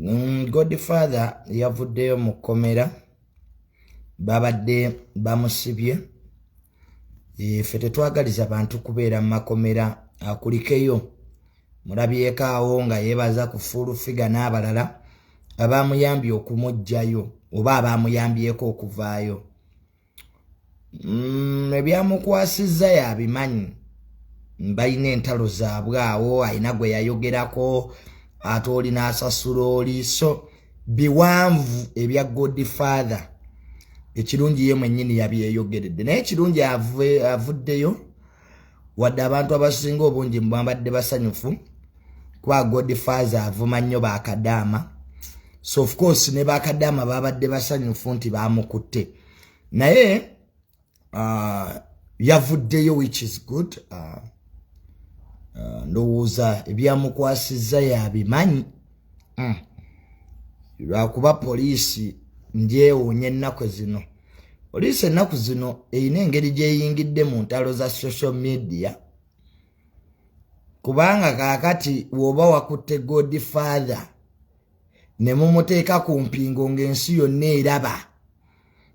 Mm, godfather yavuddeyo mu kkomera babadde bamusibye ffe tetwagaliza bantu kubeera mu makomera akulikeyo mulabyeko awo nga yebaza ku fuulu figa n'abalala abaamuyambye okumugjayo oba abaamuyambyeko okuvaayo mm, ebyamukwasizza yabimanyi balina entalo zaabwe awo alina gwe yayogerako ate oli n'asasula oli so biwanvu ebya god father ekirungi ye mwennyini yabyeyogeredde naye ekirungi avuddeyo wadde abantu abasinga obungi mubambadde basanyufu kuba godfaze avuma nnyo bakadaama so of course ne bakadaama babadde basanyufu nti bamukutte naye uh, yavuddeyo which is good uh, uh, ndowooza ebyamukwasizza yabimanyi mm. lwakuba poliisi ndyewuunya ennaku zino poliisi ennaku zino erina engeri gyeyingidde mu ntalo za social media kubanga kaakati woba wakutte god father ne mumuteeka ku mpingo ng'ensi yonna eraba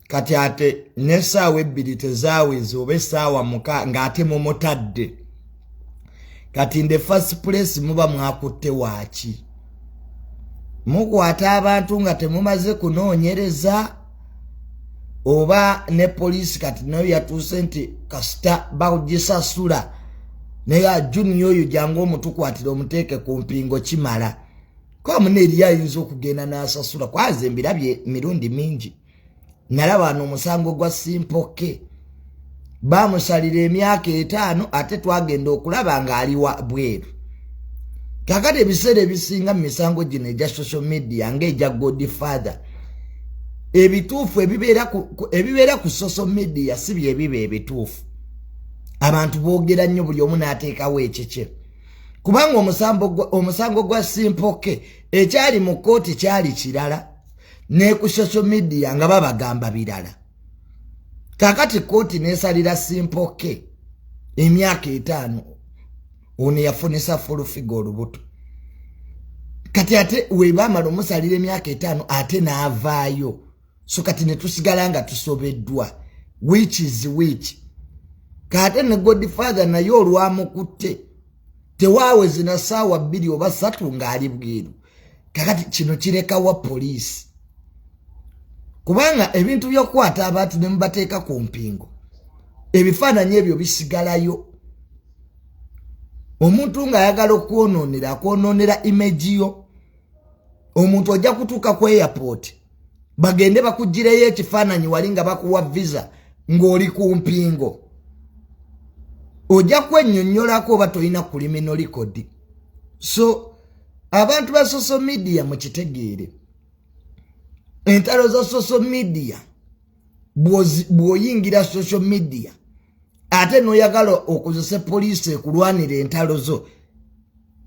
kati ate n'essaawa ebbiri tezawezi oba essaawa muka ng'ate mumutadde kati nde first place muba mwakutte waaki mukwata abantu nga temumaze kunoonyereza oba ne poliisi kati nayo yatuuse nti kasita bagisasula naye ajuniya oyo jangu omutukwatira omuteeke ku mpingo kimala kwamuna eriyo ayinza okugenda n'asasula kwaze mbirabye mirundi mingi nalaba nomusango gwa simpoke bamusalira emyaka etaano ate twagenda okulaba ngaaliwa bweru kakati ebiseera ebisinga mu misango gino egya social media ngaegya god father ebituufu ebibeera ku social media si byebiba ebituufu abantu boogera nnyo buli omu n'ateekawo ekikye kubanga omusango gwa simpoke ekyali mu kkooti kyali kirala ne ku social media nga babagamba birala kakati kooti nesalira simpoke emyaka etaano ono yafunisa fulufiga olubuto kati ate webamala omusalira emyaka etaano ate naavaayo so kati netusigala nga tusobeddwa which is which kaate ne godfather naye olwamukutte tewawezina saawa bbiri oba satu ng'ali bweru kakati kino kirekawa poliisi kubanga ebintu byokukwata abantu ne mubateeka ku mpingo ebifaananyi ebyo bisigalayo omuntu ng'ayagala okwonoonera akwonoonera imeji yo omuntu ojja kutuuka ku airport bagende bakugireyo ekifaananyi wali nga bakuwa visa ng'oli ku mpingo ojja kwennyonnyolako oba tolina kulimino likodi so abantu ba social media mukitegeere entalo za social media bwoyingira social media ate noyagala okozese poliisi ekulwanira entalo zo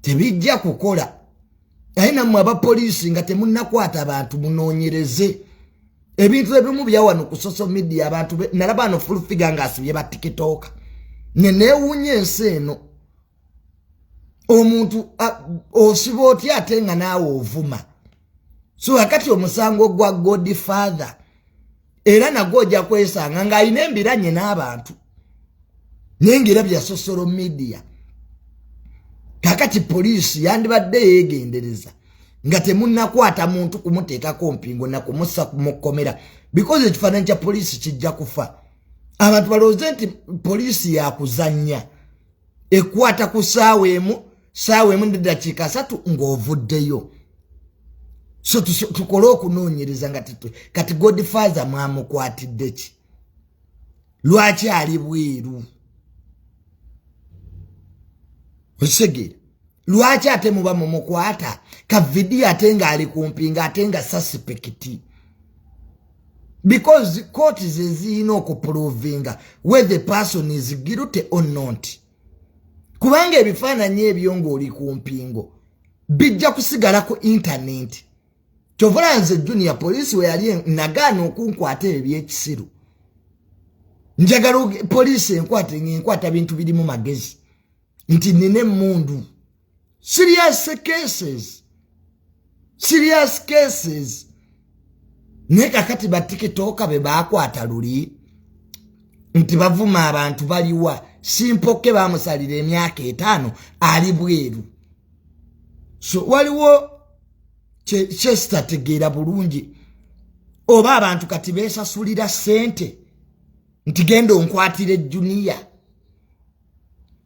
tebijja kukola naye nammwe abapoliisi nga temunakwata bantu munoonyereze ebintu ebimu byawano ku social media abantu nalaba ano fulfiga nga asibye batikitooka neneewuunya ensi eno omuntu osiba otya ate nga naawe ovuma so akati omusango gwa god father era nagwo ojja kwesanga ng'alina embiranye n'abantu naye ngaera bya sosolo media kakati poliisi yandibadde yeegendereza nga temunakwata muntu kumuteekako mpingo nakumusa mukomera because ekifaananyi kya poliisi kijja kufa abantu balowooze nti poliisi yakuzannya ekwata ku saawa emu saawa emu nedakiika asatu ng'ovuddeyo so tukole okunoonyereza nga titwe kati godfather mwamukwatidde ki lwaki ali bweru okisegeera lwaki ate muba mumukwata ka vidiyo ate nga ali kumpi nga ate nga sasipekiti because court zeziyina okuprovinga whe the person is guilty or not kubanga ebifaananyi ebyo ngaoli ku mpingo bijja kusigala ku intaneti kyovula nze junior poliisi weyali nagaana okunkwata ebyo byekisiru njagala poliisi enkwata ngenkwata bintu birimu magezi nti nina emundu serious cases serious cases naye kakati batikitoka be bakwata luli nti bavuma abantu baliwa simpoke bamusalira emyaka etaano ali bweru so waliwo kyesitategeera bulungi oba abantu kati besasulira sente nti genda onkwatire juniya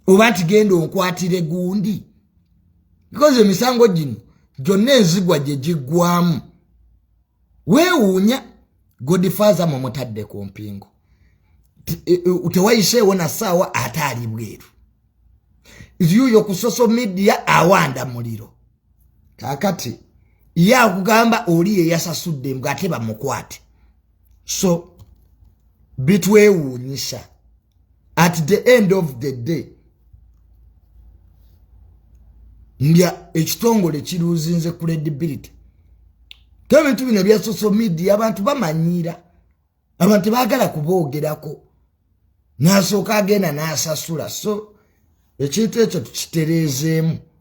oba nti genda onkwatire gundi because emisango gino gyonna enzigwa gye giggwamu weewuunya godifaaza mwe mutadde ku mpingo e, e, tewayiseewo na ssaawa ate ali bweru yuyo ku social media awanda muliro kakati ye akugamba oli yeyasasudde mbw ate bamukwate so bitwewuunyisa at the end of the day nga ekitongole kiruuzinze credibility to ebintu bino bya social media abantu bamanyiira abantu tebagala kuboogerako n'asooka agenda n'asasula so ekintu ekyo tukitereezeemu